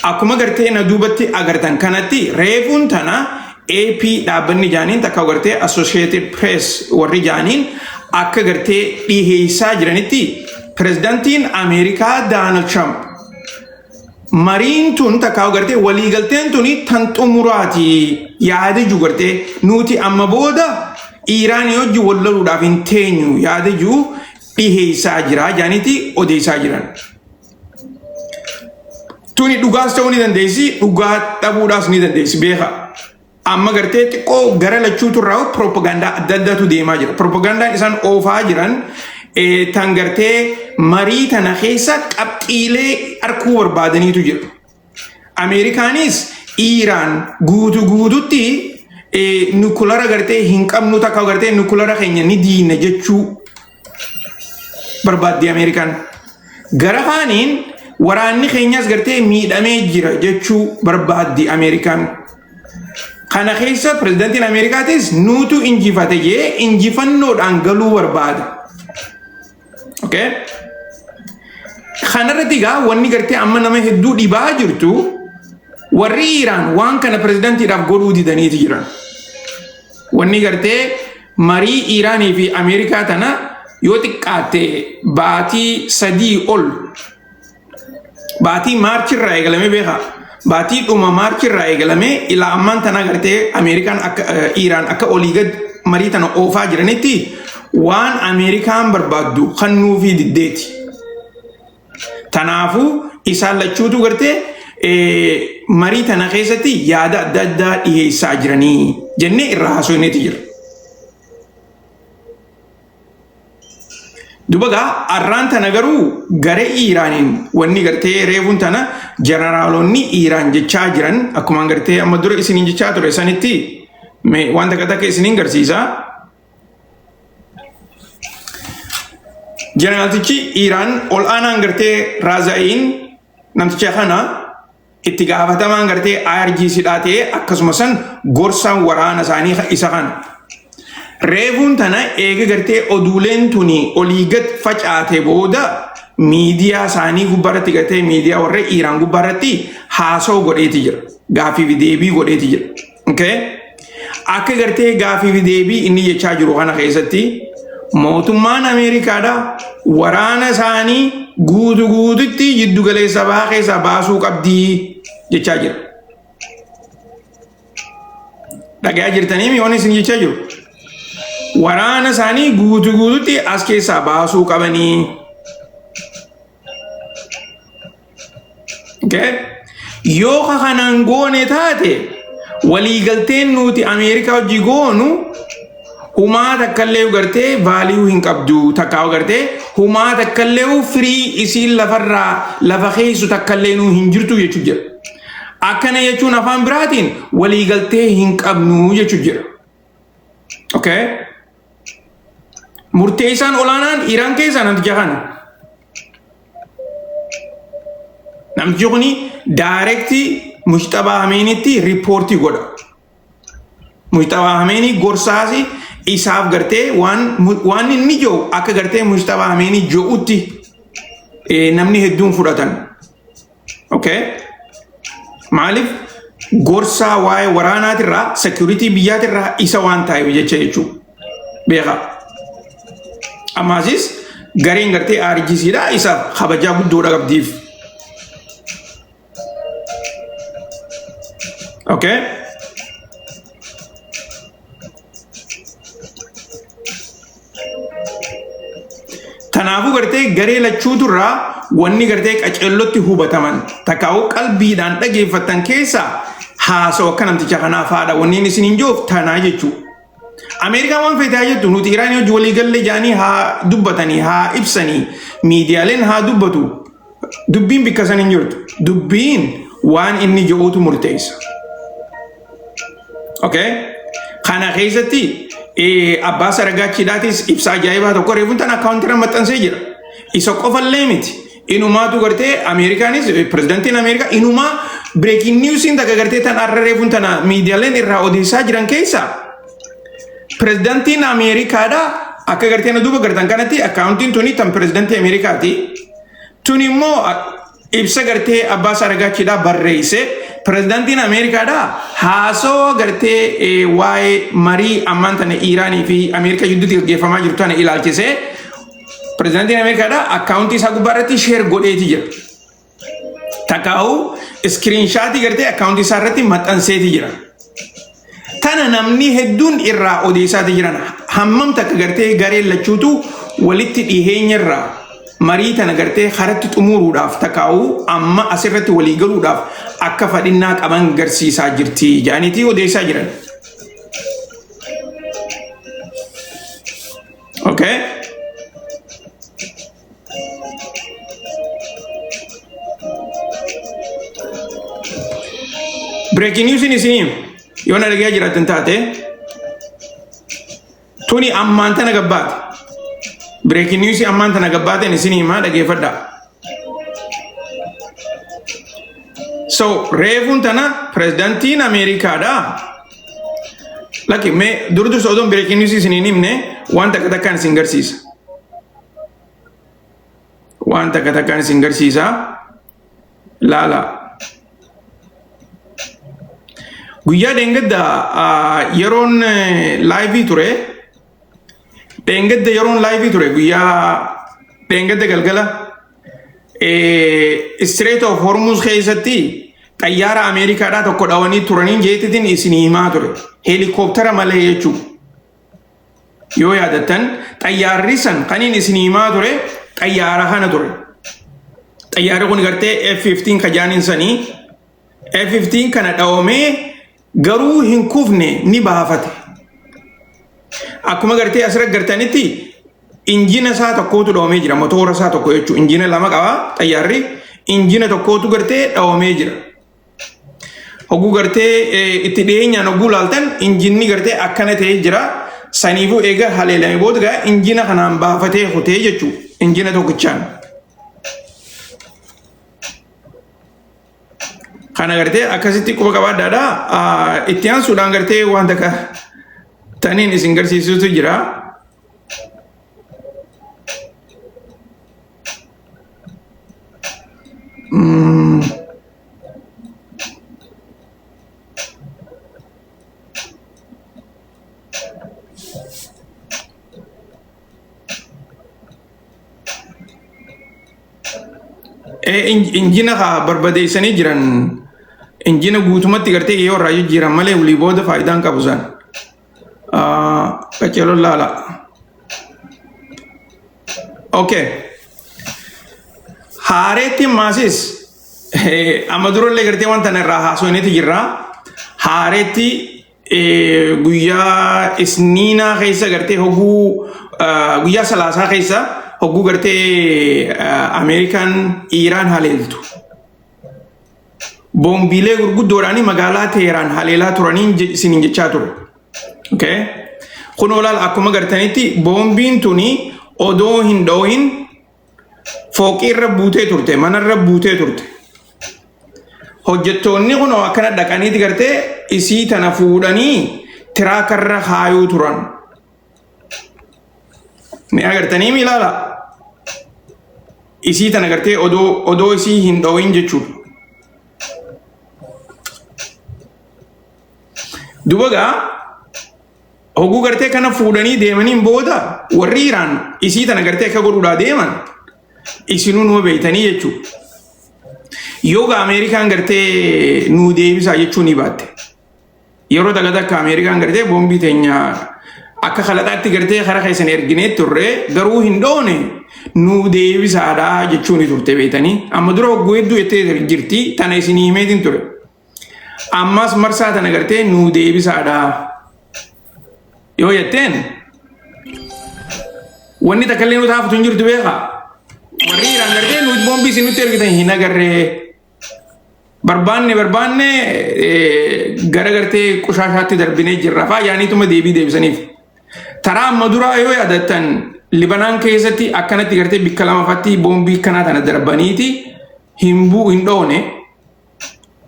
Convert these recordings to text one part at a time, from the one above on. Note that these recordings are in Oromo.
Akkuma gartee na duubatti agartan kanatti reefuun tana AP dhaabbanni jaaniin takka gartee Associated Press warri jaaniin akka gartee dhiheessaa jiranitti pirezidantiin Ameerikaa Daanald Tiraamp mariin tun takka gartee waliigalteen tuni tan xumuraati yaadiju gartee nuti amma booda Iiraan hojii wal loluudhaaf hin teenyu yaadiju dhiheessaa jira jaaniitti odeessaa jiran. Tuni dhugaas ta'uu ni dandeessi, dhugaa dhabuudhaas ni dandeessi beekaa. Amma gartee xiqqoo gara lachuutu irraa piroopagaandaa adda addaatu deemaa jira. Piroopagaandaan isaan oofaa jiran eh, tan gartee marii tana keessa qabxiilee arkuu barbaadaniitu jira. Ameerikaanis Iiraan guutu guututti nukulara gartee hin qabnu takka gartee nukulara keenya ni diina jechuu barbaaddi Ameerikaan. Gara kaaniin waraanni keenyas gartee miidhamee jira jechuu barbaaddi Ameerikaan. Kana keessa pirezidantiin Ameerikaatis nuutu injifate jee injifannoodhaan galuu barbaada. Okay? Kanarratti egaa wanni gartee amma nama hedduu dhibaa jirtu warri Iraan waan kana pirezidantiidhaaf godhuu didaniiti jiran. Wanni gartee marii Iraanii fi Ameerikaa tana yoo xiqqaatte baatii sadii ol baatii maarchi irraa eegalamee beekaa baatii dhuma maarchi irraa eegalamee ilaa ammaan tana agartee ameerikaan akka iiraan akka olii gad marii tana oofaa jiranitti waan ameerikaan barbaaddu kan nuufii diddeeti tanaafuu isaan lachuutu gartee marii tana keessatti yaada adda addaa dhiheessaa jiranii jennee irraa haasofneeti jira. Duba gaa arraan tana garuu garee Iiraaniin wanni gartee reefuun tana jeneraalonni Iiraan jechaa jiran akkuma gartee amma dura isiniin jechaa ture sanitti mee waan takka takka isiniin garsiisa. Jeneraaltichi Iiraan ol aanaan gartee Raazaa'iin namticha kana Itti gaafatamaan gartee IRGC dhaa ta'ee akkasuma san gorsaan waraana isaanii ka- isa kana. Reefuun tana eega gartee oduuleen tuni olii gad facaate booda miidiyaa isaanii gubbaarratti gartee miidiyaa warra Iiraan gubbaarratti haasoo godheeti jira. Gaaffii fi deebii godheeti jira. Okay? Akka gartee gaafii fi deebii inni jechaa jiru kana keessatti mootummaan Ameerikaadha waraana isaanii guutu guututti jiddu galeessa bahaa keessaa baasuu qabdi jechaa jira. Dhagayaa jirtanii mi'oon isin jechaa jiru. Waraana isaanii guutu guututti as keessaa baasuu qabanii. Okay? Yoo ka kanaan goone taate waliigalteen nuti Ameerikaa hojii goonu humaa takkallee gartee vaaliyuu hin qabdu takkaa gartee humaa takkallee firii isiin lafarraa lafa keessu takkallee nuu hin jirtu jechuu jira. Akkana jechuun afaan biraatiin waliigaltee hin qabnu jechuu jira. Okay? Murteessaan olaanaan Iraan keessaa namticha kana. Namtichi kun daayirektii Mushxabaa Hameenitti riippoortii godha. Mushxabaa Hameenii gorsaas isaaf gartee waan mu- waan inni jiru akka gartee Mushxabaa Hameenii jirutti eh, namni hedduun fudhatan. Okay. Maaliif gorsaa waa'ee waraanaatirraa security biyyaatirraa isa waan taa'eef jecha jechuudha. Beekaa. Ammaasis gareen gartee RGCdha isa kabajaa guddoodha qabdiif. Okay. Kanaafuu gartee garee lachuutu irraa wanni gartee qaceellotti hubataman takkaa'uu qalbiidhaan dhageeffatan keessaa haasoo akka namticha kanaa faadha wanniin isin hin joof tanaa jechuudha. Ameerikaan waan feetaa jettu nuti Iraan hojii walii galle jaanii haa dubbatanii haa ibsanii miidiyaaleen haa dubbatu Dubbiin bikka san hin jirtu. Dubbiin waan inni jedhuutu murteessa. Okay? Kana keessatti eh, abbaa saragaachiidhaatis ibsa ajaa'ibaa tokko reefuun tan akkaawuntiirra maxxansee jira. Isa qofallee miti. Inumaatu gartee Ameerikaanis eh, pirezidantiin Ameerikaa inumaa bireekiin niwusiin takka gartee tan har'a reefuun tana miidiyaaleen irraa odeessaa jiran keessaa Pirezidantiin Ameerikaadha akka gartee na duuba gartan kanatti akkaawuntiin tuni tan pirezidantii Ameerikaati. Tun immoo ibsa gartee abbaa isaa ragaachiidhaa barreesse pirezidantiin Ameerikaadha haasawaa gartee waa'ee marii ammaan tana Iiraanii fi Ameerikaa gidduutti gaggeeffamaa jirtu tana ilaalchisee pirezidantiin Ameerikaadha akkaawuntii isaa gubbaa irratti sheer godheeti jira. Takaa'u iskiriinshaatii gartee akkaawuntii isaa irratti maxxanseeti jira. Tana namni hedduun irraa odeessaati jiran hammam takka gartee gareen lachuutu walitti dhiheenya irraa marii tana gartee karatti xumuruudhaaf takaa'u amma asirratti walii galuudhaaf akka fadhinnaa qaban garsiisaa jirti jedhaniiti odeessaa jiran. Okay. Breaking news in isin yoo na dhagaya jiraatan taate tuni ammaan tana gabbaate. Breaking news ammaan tana gabbaateen isin himaa dhageeffadhaa. So reefuun tana pirezidantiin Ameerikaadha. Lakki mee dur dursa odoon breaking news isin hin himne waan takka takkaan isin garsiisa. waan takka takkaan isin garsiisaa laala guyyaa dheengadda yeroon laayivii ture dheengadda yeroon laayivii ture guyyaa dheengadda galgala istireet of hormuus keessatti xayyaara ameerikaadhaa tokko dhawanii turaniin jeetitiin isin himaa ture heelikooptara malee jechuudha. Yoo yaadattan xayyaarri san kan inni isin himaa ture xayyaara kana ture. Xayyaarri kun gartee F-15 ka jaaniin sanii F-15 kana dhawamee garuu hin kufne ni baafate. Akkuma gartee asirra gartanitti injina isaa tokkootu dhawamee jira motoora isaa tokko jechuudha. Injina lama qaba xayyaarri injina tokkootu gartee dhawamee jira. Oguu gartee itti dhiyeenyaan oguu laaltan injinni gartee akkana ta'ee jira. Saniifuu eega haleelame booda gaa injina kanaan baafatee kutee jechuu injina tokkichaan. Kana gartee akkasitti quba qabaadhaadha. Itti aansuudhaan gartee waan takka taniin isin garsiisutu jira. Eh, in- injina haa barbadeessanii jiran injina guutumatti gartee yoo irraa jijjiiran malee walii booda faayidaan qabu sana. qaceeloo laala okay haareetti maasis amma durallee gartee wanta na irraa haasofneeti jirra haareetti guyyaa isniinaa keessa gartee hoguu guyyaa salaasaa keessa hoguu gartee ameerikaan iiraan haleeltu boombiilee gurguddoodhaan magaalaa Teeraan haleelaa turaniin je- isiniin jechaa ture. Okay? Kun olaal akkuma gartanitti boombiin tuni odoo hin dhoohin fooqii irra buutee turte, mana irra buutee turte. Hojjettoonni kun akkana dhaqaniiti gartee isii tana fuudhanii tiraaka irra kaayuu turan. Ni agartanii mi ilaala? Isii tan agartee odoo odoo isii hin dhowin jechuu. Duba gaa hoguu gartee kana fuudhanii deemaniin booda warri Iraan isii tan agartee akka godhuudhaa deeman isinuu numa beeytanii jechuu. Yoo gaa Ameerikaan gartee nuu deebisaa jechuu ni baatte. Yeroo takka takka Ameerikaan gartee boombii teenya akka kalaqaatti gartee kara keessan erginee turre garuu hin dhoone nu deebisaadha jechuun ni turte beektanii amma dura hogguu hedduu jettee jirti tana isin himeetiin ture. Ammas marsaa tana gartee nu deebisaadha yoo jetteen wanni takka illee nu taafatu hin jirtu beekaa. Warri Iraan gartee nuti boombii isin nutti ergitan hin agarree. barbaanne barbaanne gara gartee qushaashaatti darbinee jirra faa yaaniituma deebii deebisaniif. Taraa amma duraa yoo yaadattan Libanaan keessatti akkanatti gartee bikka lamafatti boombii kanaa tana darbaniiti hin buu hin dhoone.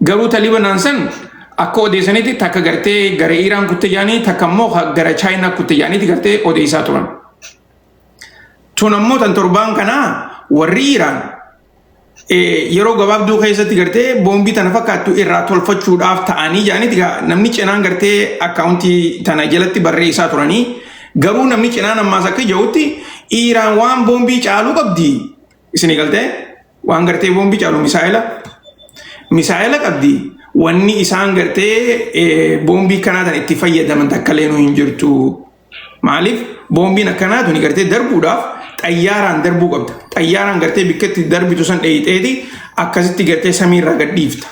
Garuu ta Libanaan san akka odeessanitti takka gartee gara Iraan kutte jaanii takka immoo gara Chaayinaa kutte jaaniiti gartee odeessaa turan. Tun ammoo tan torbaan kanaa warri Iraan eh, yeroo gabaabduu keessatti gartee boombii tana fakkaattu irraa tolfachuudhaaf ta'anii jedhaniiti gaa namni cinaan gartee akkaawuntii tana jalatti barreessaa turanii garuu namni cinaan ammaas akka jedhutti Iiraan waan boombii caaluu qabdi isin galtee waan gartee boombii caalu misaa'ela misaa'ela qabdi wanni isaan gartee eh, boombii kanaa tana itti fayyadaman takka leenuu hin jirtu Maaliif boombiin akkanaa tuni gartee darbuudhaaf xayyaaraan darbuu qabda. Xayyaaraan gartee bikka itti darbitu san dheeyxeeti akkasitti gartee samiirraa gad dhiifta.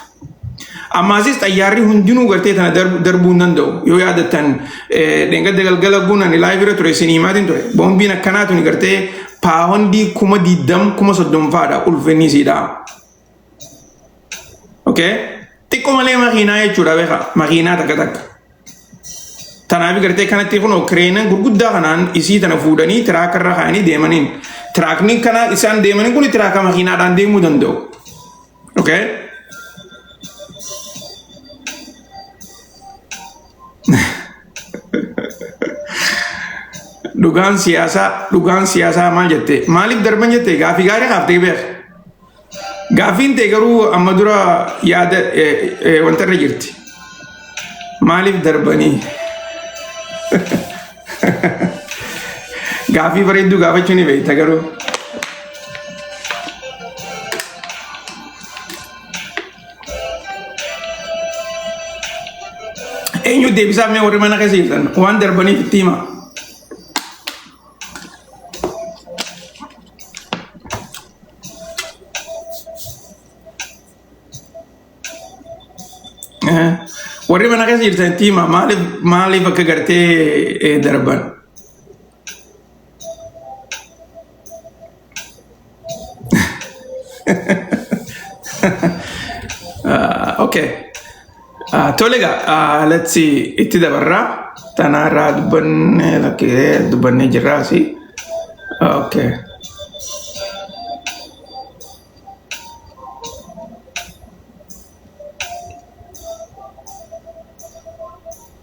Ammaasis xayyaarri hundinuu gartee tana darb- darbuu hin danda'u. Yoo yaadattan eh, dheengadda galgala guun ani laayif irra ture isinii maatiin ture. Boombiin akkanaa tuni gartee paawondii kuma diddam kuma soddom faadha ulfinni isiidhaa. Okay. Xiqqoo malee makiinaa jechuudha beekaa. Makiinaa takka takka. Tanaaf gartee kanatti kun kireenan gurguddaa kanaan isii tana fuudhanii tiraaka irra kaa'anii deemaniin. Tiraakni kana isaan deemaniin kun tiraaka makiinaadhaan deemuu danda'u. Okay. Dhugaan siyaasaa dhugaan siyaasaa maal jette maaliif darban jette gaafii gaarii kaaftee beeka. Gaaffiin tee garuu amma dura yaada wanta irra jirti. Maaliif darbanii? Gaaffii bareedduu gaafachuu ni beekta garuu. Eenyu deebisaa mee warri mana keessa jirtan waan darbaniif itti himaa. Eh, Warri mana keessa jirtan itti hima maaliif maaliif akka gartee eh, darban. okay. Uh, tole egaa uh, let's see itti dabarraa tanaa irraa dubbanne lakkee dubbannee jirraa si okay.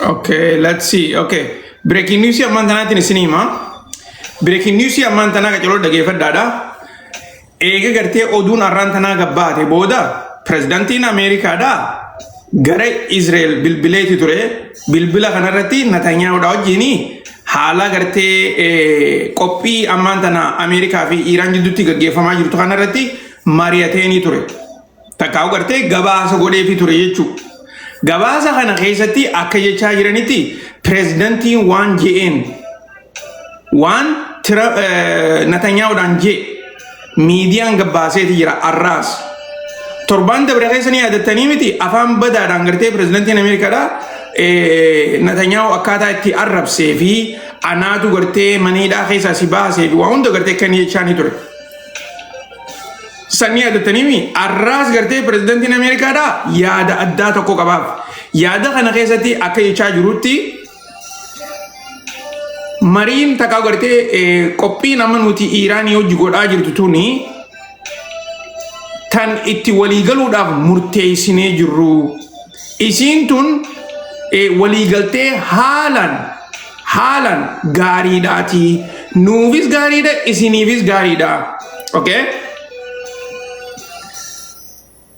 Okay, let's see. Okay. Breaking news ammaan tanaatiin isin hima. Breaking news ammaan tanaa qacaroo dhageeffadhaadha. Eega gartee oduun arraan tanaa gabbaate booda pirezidantiin Ameerikaadha Gara Israel bilbileeti ture. Bilbila kanarratti Natanyaahudha wajjin haala gartee qophii ammaan tana Ameerikaa fi Iiraan jidduutti gaggeeffamaa jirtu kanarratti mari'ateenii ture. Takkaa'u gartee gabaasa godheefi ture jechuudha. Gabaasa kana keessatti akka jechaa jiranitti pireezidantiin waan je'een waan tira natanyaa'uudhaan jee miidiyaan gabbaaseeti jira arraas torbaan dabre keessa ni yaadattanii miti afaan badaadhaan gartee pirezidantiin ameerikaadha natanyaa'u akkaataa itti arrabsee fi anaatu gartee maniidhaa keessaa si baasee fi waa hunda gartee kan jechaa ni ture. Sanni yaadattanii mi arraas gartee pirezidantiin ameerikaadha yaada addaa tokko qabaaf yaada kana keessatti akka jechaa jirutti Mariin takkaa gartee qophii nama nuti Iiraanii hojii godhaa jirtu tuni tan itti waliigaluudhaaf murteessinee jirru. Isiin tun waliigaltee haalan haalan gaariidhaati. Nuufis gaariidha, isiniifis gaariidha. Okay?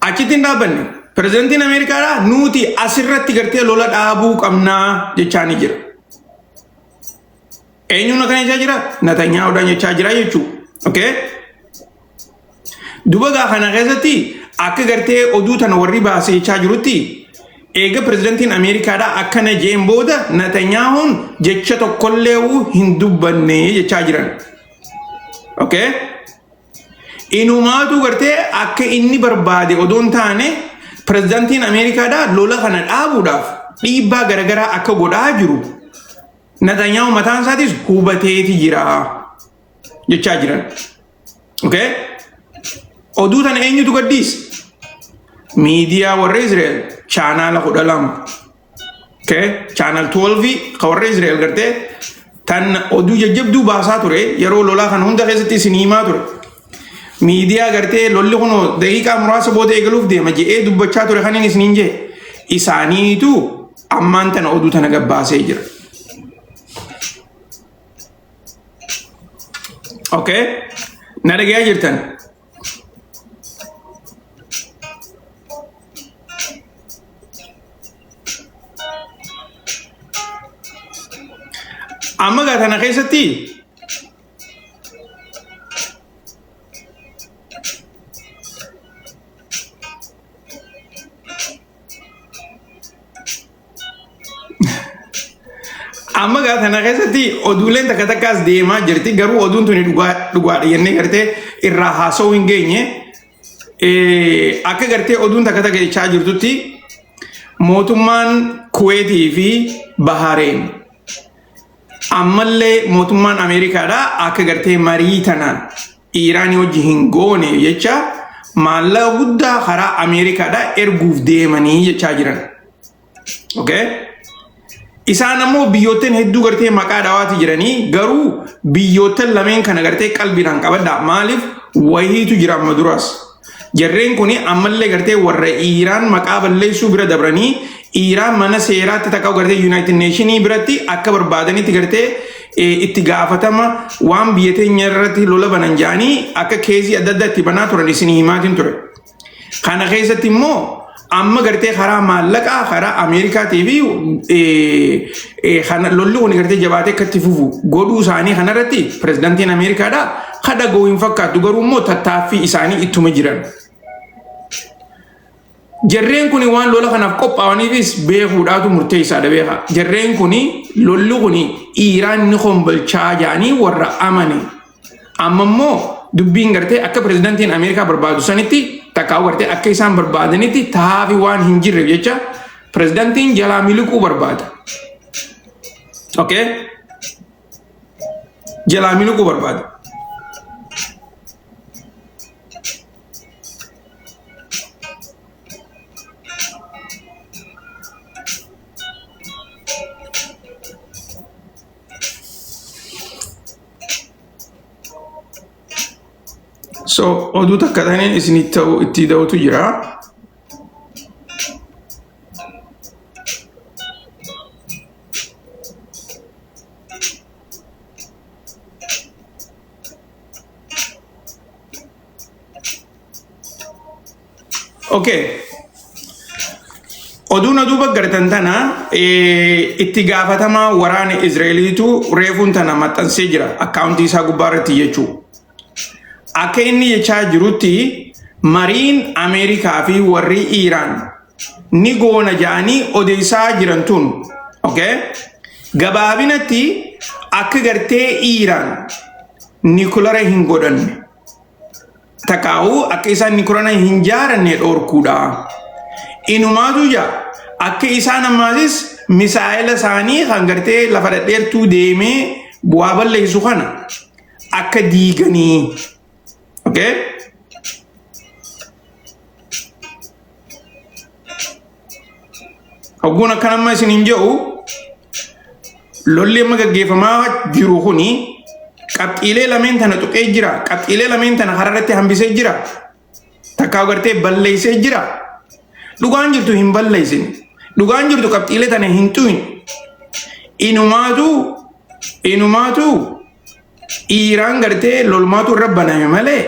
Achitti hin dhaabbanne. Pirezidantiin Ameerikaadhaa nuti asirratti gartee lola dhaabuu qabnaa jechaa ni jira. Eenyuun akkana jechaa jira? Natanyaa'uudhaan jechaa jira jechuudha. Okay? Duba gaa kana keessatti akka gartee oduu tana warri baase jechaa jirutti eega pirezidantiin Ameerikaadhaa akkana jeen booda Natanyaa'uun jecha tokkollee hin dubbanne jechaa jiran. Okay? Inumaatu gartee akka inni barbaade odoo hin taane pirezidantiin Ameerikaadhaa lola kana dhaabuudhaaf dhiibbaa garagaraa akka godhaa jiru Natanyaa'u mataan isaatis hubateeti jira jechaa jiran. Okay? Oduu tana eenyutu gaddiis? Miidiyaa warra Israa'el chaanaala kudha lama. Okay. Channel 12 ka warra Israel gartee tan oduu jajjabduu baasaa ture yeroo lolaa kan hunda keessatti isin himaa ture. Miidiyaa gartee lolli kun daqiiqaa muraasa booda eegaluuf deema je'ee dubbachaa ture kan inni isiniin jee isaaniitu ammaan tana oduu tana gabbaasee jira. Okay. Na dhagayaa jirtan. Amma gaa kana keessatti Amma gaa kana keessatti oduuleen takka takkaas deemaa jirti garuu oduun tuni dhugaa dhugaadha jennee gartee irraa haasa'uu hin geenye. Eh, Akka gartee oduun takka takka jechaa jirtutti mootummaan Kuweetii fi Bahareen ammallee mootummaan Ameerikaadha akka gartee marii tanaan Iiraanii wajji hin gooneef jecha maallaqa guddaa karaa Ameerikaadhaa erguuf deemanii jechaa jiran. Okay? Isaan ammoo biyyoottan hedduu gartee maqaa dhawaati jiranii garuu biyyoottan lameen kana gartee qalbiidhaan qabadhaa maaliif wahiitu jira amma duraas. Jarreen kun ammallee gartee warra Iiraan maqaa balleessuu bira dabranii Iiraan mana seeraatti takka gartee Yuunaayitid Neeshinii biratti akka barbaadanitti gartee eh, itti gaafatama waan biyya teenya irratti lola banan jedhanii akka keezii adda addaa itti banaa turan isin himaatiin ture. Kana keessatti immoo amma gartee karaa maallaqaa karaa Ameerikaatii fi eh, eh, kana- lolli kun gartee jabaatee akka itti fufu godhuu isaanii kanarratti pirezidantiin Ameerikaadha ka dhaga'u hin fakkaatu garuu immoo tattaaffii isaanii ittuma jiran. Jarreen kun waan lola kanaaf qophaa'aniifis beekuudhaatu murteessaadha beeka. Jarreen kun lolli kun Iiraan ni hombolchaa jedhanii warra amane Amma immoo dubbiin gartee akka pirezidantiin Ameerikaa barbaadu sanitti takkaa gartee akka isaan barbaadanitti tahaafi waan hin jirreef jecha pirezidantiin jalaa miliquu barbaada. Okay? Jalaa miliquu barbaada. So oduu takka taneen isinii ta'u itti da'utu jira. Okay. Oduu na duuba gartan tana eh, itti gaafatamaa waraana Izraeliitu reefuun tana maxxansee jira akkaawuntii isaa gubbaa irratti jechuu. Akka inni jechaa jirutti mariin Ameerikaa fi warri Iiraan ni goona jedhanii odeessaa jiran tun. Okay? Gabaabinatti akka gartee Iiraan nikulara hin godhanne. takaa'uu akka isaan nikurana hin jaaranne dhoorkuudha. Inumaatu ija akka isaan ammaasis misaa'ela isaanii kan gartee lafa dhadheertuu deemee bu'aa balleessu kana akka diiganii. Okay? Ogguun akkan amma isin hin jedhu lolli amma gaggeeffamaa jiru kuni qabxiilee lameen tana tuqee jira. Qabxiilee lameen tana karaa irratti hambisee jira. Takkaa gartee balleessee jira. Dhugaan jirtu hin balleessin. Dhugaan jirtu qabxiilee tana hin tuqin. Inumaatu inumaatu dhiiraan gartee lolmaatu irra baname malee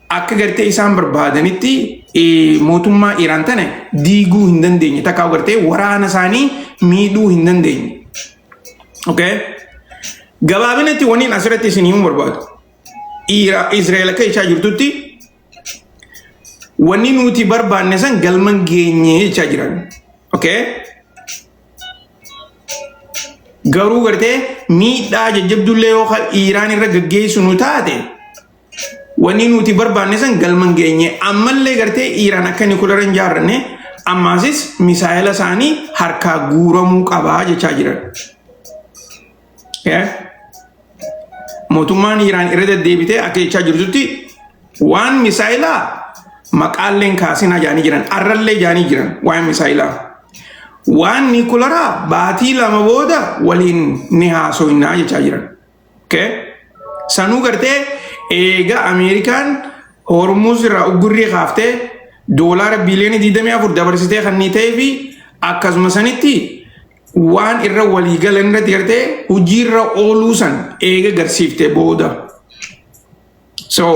akka gartee isaan barbaadanitti eh, mootummaa Iraan tana diiguu hin dandeenye takka gartee waraana isaanii miidhuu hin dandeenye. Okay? Gabaabinatti waniin asirratti isin himuu barbaadu. Iira- Israa'el akka jechaa jirtutti Wanni nuti barbaanne san galman geenye jechaa jiran. Okay? Garuu gartee miidhaa jajjabdullee yoo Iiraan irra gaggeessu nu taate wanni nuti barbaanne san galman geenye ammallee gartee Iiraan akka nikulara hin jaarranne ammaasis misaayila isaanii harkaa guuramuu qabaa jechaa jiran. Yes. Mootummaan Iraan irra deddeebitee akka jechaa jirtutti waan misaayilaa maqaalleen kaasinaa jaanii jiran arrallee jaanii jiran waan misaayilaa. Waan niikularaa baatii lama booda waliin ni haasoinaa jechaa jiran. Okay? Sanuu gartee eega Ameerikaan Hormuuz irraa uggurrii kaaftee doolaara biiliyoona 24 dabarsitee kan ni ta'ee fi akkasuma sanitti waan irra walii galan irratti gartee hojiirra ooluu san eega garsiifte booda. So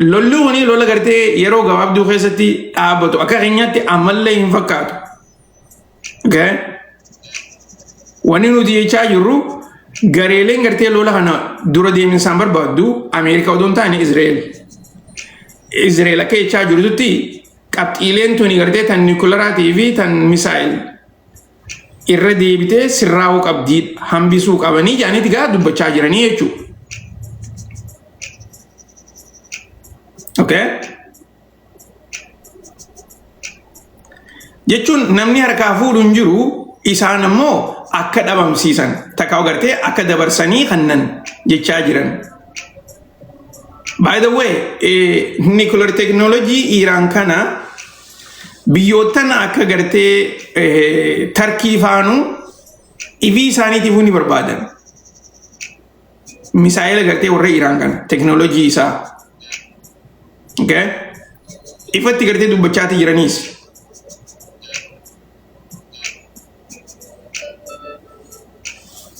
lolli kuni lola gartee yeroo gabaabduu keessatti dhaabbatu akka keenyaatti ammallee hin fakkaatu. Okay? Wanni nuti jechaa jirru gareeleen gartee lola kana dura deeminsaan barbaaddu Ameerikaa odoo hin taane Izreel. Izreel akka jechaa jirtutti Qabxiileen tuni gartee tan niikularaatii fi tan misaayil irra deebitee sirraa'uu qabdii hambisuu qabanii jedhaniiti gaa dubbachaa jiranii jechuudha. Okay? Jechuun namni harkaa fuudhu hin jiru isaan ammoo akka dhabamsiisan takka agartee akka dabarsanii kannan jechaa jiran. By the way, eh, nuclear technology Iiraan kana biyyoottan akka gartee eh, tarkii faanu ifii isaaniitiif ni barbaadan. Misaa'ela gartee warra Iiraan kana teknoolojii isaa. Okay? Ifatti gartee dubbachaati jiraniis.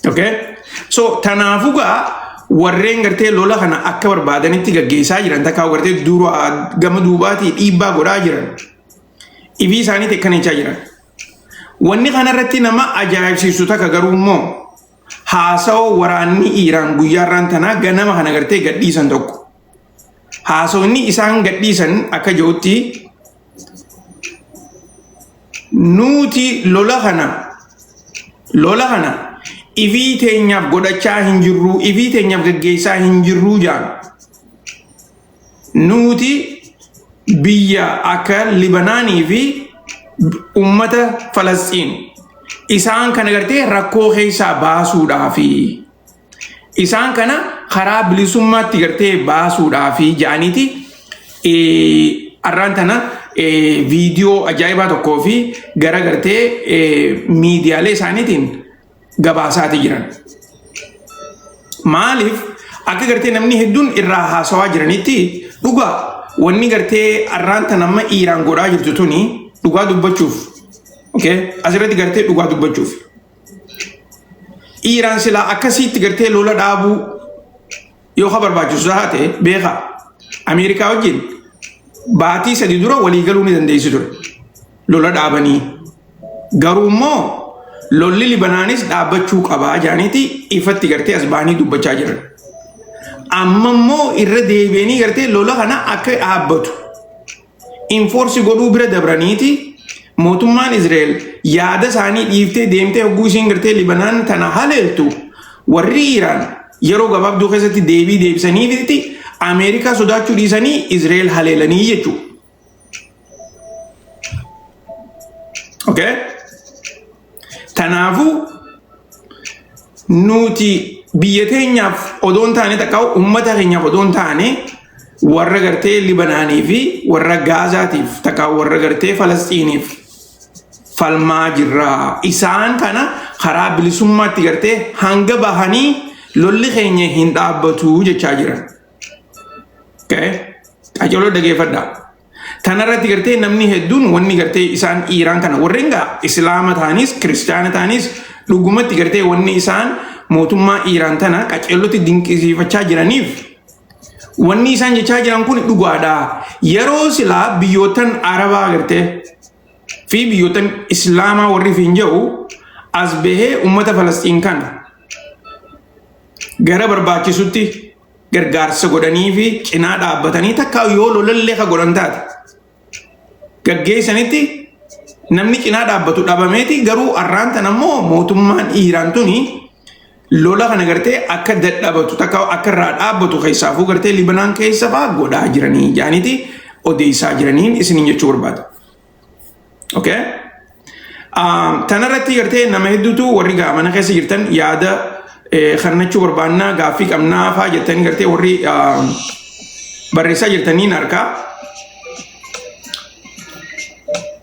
Okay? So kanaafuu gaa warreen gartee lola kana akka barbaadanitti gaggeessaa jiran takkaa gartee dura gama duubaatii dhiibbaa godhaa jiran ifii isaanii teekkanichaa jiran. Wanni kanarratti nama ajaa'ibsiisu takka garuu immoo haasawaa waraanni Iiraan guyyaarraan tanaa ganama kana gartee gadhiisan tokko. haasofni isaan gadhiisan akka jirutti nuuti lola kana lola kana ifii teenyaaf godhachaa hin jirruu ifii teenyaaf gaggeessaa hin jirruu jaan nuuti biyya akka libanaanii fi ummata falasxiin isaan kana gartee rakkoo keessaa baasuudhaa fi Isaan kana karaa bilisummaatti gartee baasuudhaaf ja'aniiti arraan tana viidiyoo ajaa'ibaa tokkoo fi gara gartee miidiyaalee isaaniitiin gabaasaatii jiran. Maaliif akka gartee namni hedduun irraa haasawaa jiranitti dhugaa wanni gartee arraan tana amma Iiraan godhaa jirtu tuni dhugaa dubbachuuf asirratti gartee dhugaa dubbachuuf. dhiiraan silaa akkasiitti gartee lola dhaabuu yoo ka barbaachisu tahaa ta'e beekaa Ameerikaa wajjin baatii sadi dura walii galuu ni dandeessi ture lola dhaabanii garuu immoo lolli libanaanis dhaabbachuu qabaa jaaniiti ifatti gartee as bahanii dubbachaa jiran amma immoo irra deebi'anii gartee lola kana akka dhaabbatu infoorsi godhuu bira dabraniiti mootummaan Izraa'el yaada isaanii dhiiftee deemtee hogguu isiin gartee Libanaan tana haleeltu warri Iraan yeroo gabaabduu keessatti deebii deebisaniifitti Ameerikaa sodaachuu dhiisanii Izraa'el haleelanii jechuudha. Okay? Kanaafuu nuti biyya teenyaaf odoo hin taane takka uummata keenyaaf odoo hin taane warra gartee Libanaanii fi warra Gaazaatiif takka warra gartee Falasxiiniif falmaa jirra. Isaan kana karaa bilisummaatti gartee hanga bahanii lolli keenya hin dhaabbatu jechaa jiran. Okay? Qacoloo dhageeffadhaa. Tanarratti gartee namni hedduun wanni gartee isaan Iiraan kana warreen gaa Islaama ta'anis Kiristaana ta'anis dhugumatti gartee wanni isaan mootummaa Iiraan tana qaceellotti dinqisiifachaa jiraniif wanni isaan jechaa jiran kun dhugaadha. Yeroo silaa biyyootan Arabaa gartee fi biyyootan Islaamaa warri fi hin jedhu as bahee uummata Falasxiin kana gara barbaachisutti gargaarsa godhanii fi cinaa dhaabbatanii takka yoo lolallee ka godhan taate gaggeessanitti namni cinaa dhaabbatu dhabameeti garuu arraan tan ammoo mootummaan Iiraan tuni lola kana gartee akka dadhabatu takka akka irraa dhaabbatu keessaafuu gartee Libanaan keessa fa'aa godhaa jiranii jaaniiti odeessaa jiraniin isiniin jechuu barbaada. Okay? Um, tanarratti gartee nama hedduutu warri gaa mana keessa jirtan yaada eh, kannachuu barbaannaa gaaffii qabnaa faa jettanii gartee warri um, barreessaa jirtaniin harkaa.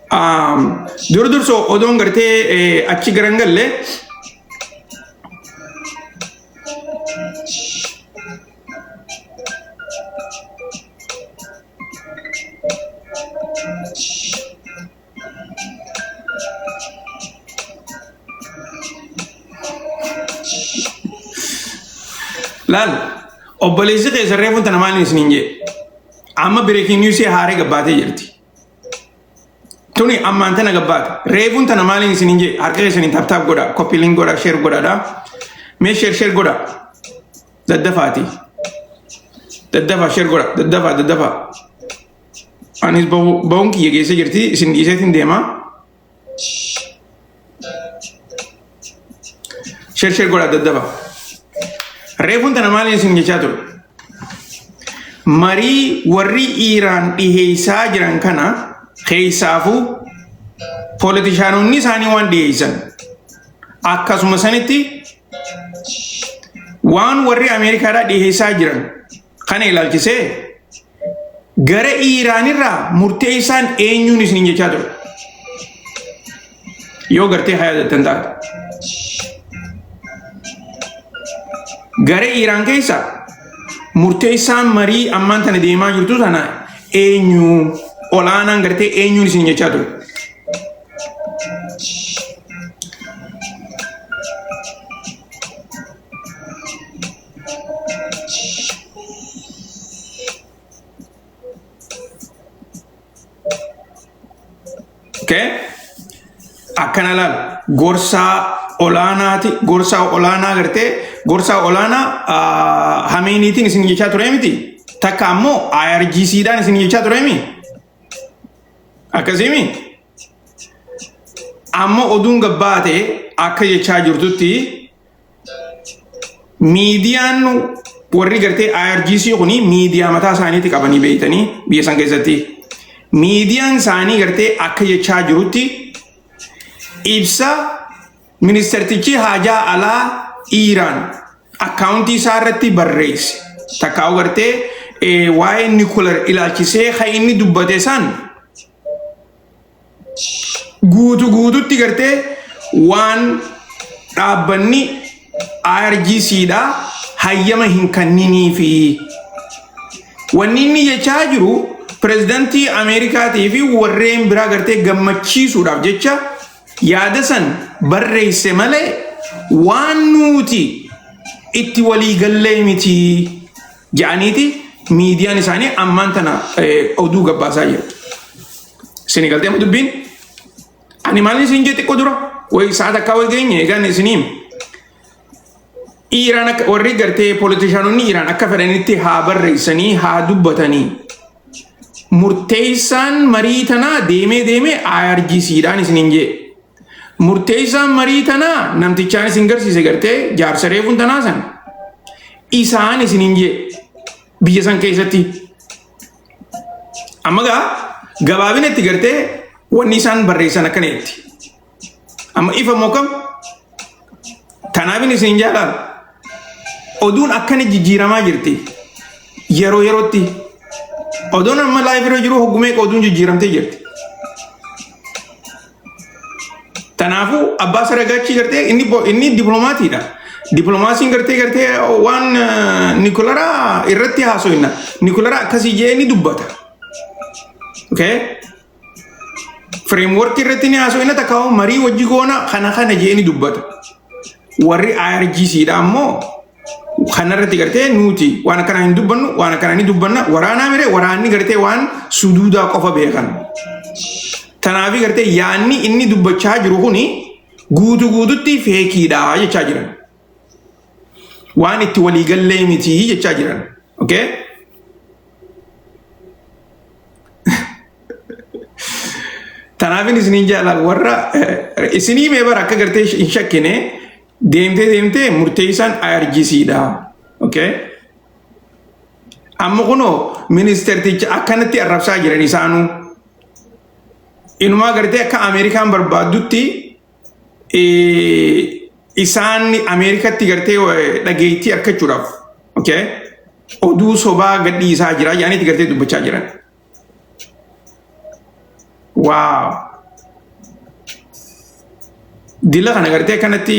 Um, dur durso odoon gartee eh, achi garan galle Laal obboleessi keessa reefuun tana maaliin isiniin jedhe amma bireekiin niwusii haaree gabbaatee jirti. Tuni ammaan tana gabbaate reefuun tana maaliin isiniin jedhe harka keessaniin taaptaap godha koppiiliin godha sheer godhaadha mee sheer sheer godha. daddafaati daddafaa sheer godha daddafaa daddafaa anis bahu- bahuun kiyya geessa jirti isin dhiiseetiin deema sheer sheer godha daddafa reefuun tana maaliin isin jechaa ture marii warri iiraan dhiheessaa jiran kana keessaafuu poolitishaanonni isaanii waan dhiheessan akkasuma sanitti Waan warri Ameerikaadhaa dhiheessaa jiran kana ilaalchisee gara Iiraanirraa murteessaan eenyuun isiniin jechaa ture. Yoo gartee haa yaadattan taate. Gara Iiraan keessa murteessaan marii ammaan tana deemaa jirtu sana eenyu olaanaan gartee eenyuun isiniin jechaa ture. Okay. Akkana laal gorsaa olaanaati gorsaa olaanaa gartee gorsaa olaanaa ah, hameeniitiin isin jechaa ture miti takka ammoo IRGC dhaan isin jechaa ture miti akkasiimi amma oduun gabbaa ta'e akka jechaa jirtutti miidiyaan warri gartee IRGC kuni miidiyaa mataa isaaniitti qabanii beeytanii biyya san keessatti miidiyaan isaanii gartee akka jechaa jirutti ibsa Ministeertichi haajaa alaa Iiraan akkaawuntii isaa irratti barreesse. Takka hubartee waa'ee nikular ilaalchisee kan inni dubbate san guutu guututti gartee waan dhaabbanni IRGC dha hayyama hin kanninii fi wanni inni jechaa jiru pirezidantii Ameerikaatii fi warreen biraa gartee gammachiisuudhaaf jecha yaada san barreesse malee waan nuuti itti walii gallee miti ja'aniiti miidiyaan isaanii ammaan tana oduu gabbaasaa jiru. Isin galtee dubbiin ani maalin isin jee xiqqoo dura way sa'aat akkaa way geenye egaan isiniim. Iiraan akka warri gartee poolitishaanonni Iiraan akka fedhanitti haa barreessanii haa dubbatanii. murteessaan marii tanaa deemee deemee IRGC dhaan isiniin jee. Murteessaan marii tanaa namtichaan isin garsiise gartee jaarsa reefuun tanaa san isaan isiniin jee biyya san keessatti. Amma gaa gabaabinatti gartee wanni isaan barreessan akkana jetti. Amma ifa moo kam? Kanaafin isin jaalaan oduun akkana jijjiiramaa jirti. Yeroo yerootti oduun amma laayif irra jiru hoggumee oduun jijjiiramtee jirti. Kanaafuu abbaa saragaachii gartee inni bo- inni dippiloomaatiidha. Dippiloomaasiin gartee gartee waan eh, nikularaa irratti haasoinna. Nikularaa akkasii jee ni dubbata. Okay? Fireemworkii irratti ni haasoo inni takka marii wajji goona kana kana jeeni dubbata. Warri IRGC dha ammoo kanarratti gartee nuti waan akkanaa hin dubbannu waan akkanaa ni dubbanna waraanaa mire waraanni gartee waan suduudaa qofa beekan. Tanaafi gartee yaanni inni dubbachaa jiru kuni guutu guututti feekiidha jechaa jiran. waan itti walii gallee miti jechaa jiran. Okay? Tanaafin isiniin jaalala warra eh, isinii mee bara akka gartee hin shakkine deemtee deemtee murteessaan IRGC dha. Okay? Amma kunoo ministeerticha akkanatti arrabsaa jiran isaanuu inumaa gartee akka Ameerikaan barbaaddutti isaan Ameerikatti gartee dhageettii argachuudhaaf okay, oduu sobaa gadhiisaa jira jedhaniiti gartee dubbachaa jiran. Waaw! Dila kana gartee kanatti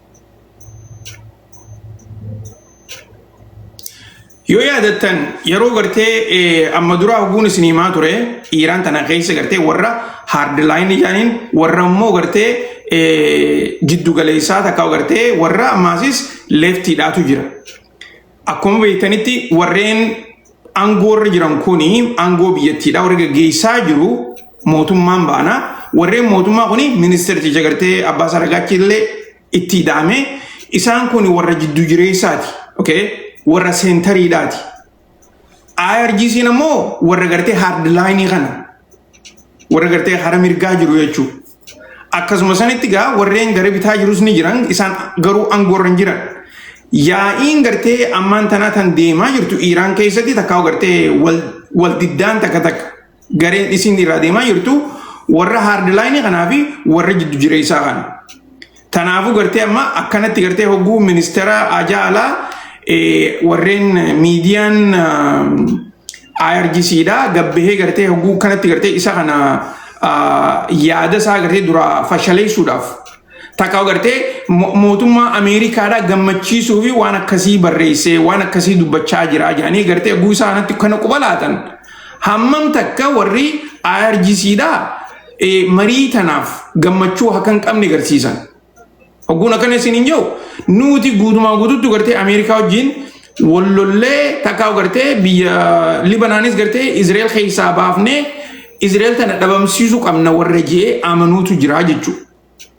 Yoo yaadattan yeroo gartee amma duraa hogguun isin himaa ture Iiraan tana keessa gartee warra haardilaayinii jaaniin warra immoo gartee jiddu galeessaa takka gartee warra ammaasis leeftiidhaatu jira. Akkuma beektanitti warreen aangoo irra jiran kun aangoo biyyattiidha warri gaggeessaa jiru mootummaan baana warreen mootummaa kun ministeerti jagartee abbaa saragaachi illee itti ida'ame isaan kun warra jiddu jireessaati okay? warra seentariidhaati IRGC'n ammoo warra gartee haardlaayinii kana warra gartee hara mirgaa jiru jechuudha. Akkasuma sanitti gaa warreen gara bitaa jirus ni jiran isaan garuu aangoorra hin jiran. Yaa'iin gartee ammaan tanaa tan deemaa jirtu Iiraan keessatti takkaa gartee wal wal diddaan takka takka gareen isiin irraa deemaa jirtu warra haardilaayinii kanaa fi warra jiddu jireessaa kana. Tanaafuu gartee amma akkanatti gartee hogguu ministeera ajaa alaa eh, warreen miidiyaan ah, IRGC dha gabbahee gartee hogguu kanatti gartee isa kana ah, yaada isaa gartee dura fashaleessuudhaaf takka gartee mo- mootummaa Ameerikaadhaa gammachiisuu fi waan akkasii barreessee waan akkasii dubbachaa jira jedhanii gartee hogguu isaa kanatti kana quba laatan hammam takka warri IRGC dha eh, marii tanaaf gammachuu akka hin qabne garsiisan. Ogguun akkana isin hin jiru nuti guutumaa guututti gartee Ameerikaa wajjin wallollee takkaa gartee biyya Libanaanis gartee Izrael keessaa baafnee Izrael tana dhabamsiisuu qabna warra jee amanuutu jira jechuudha.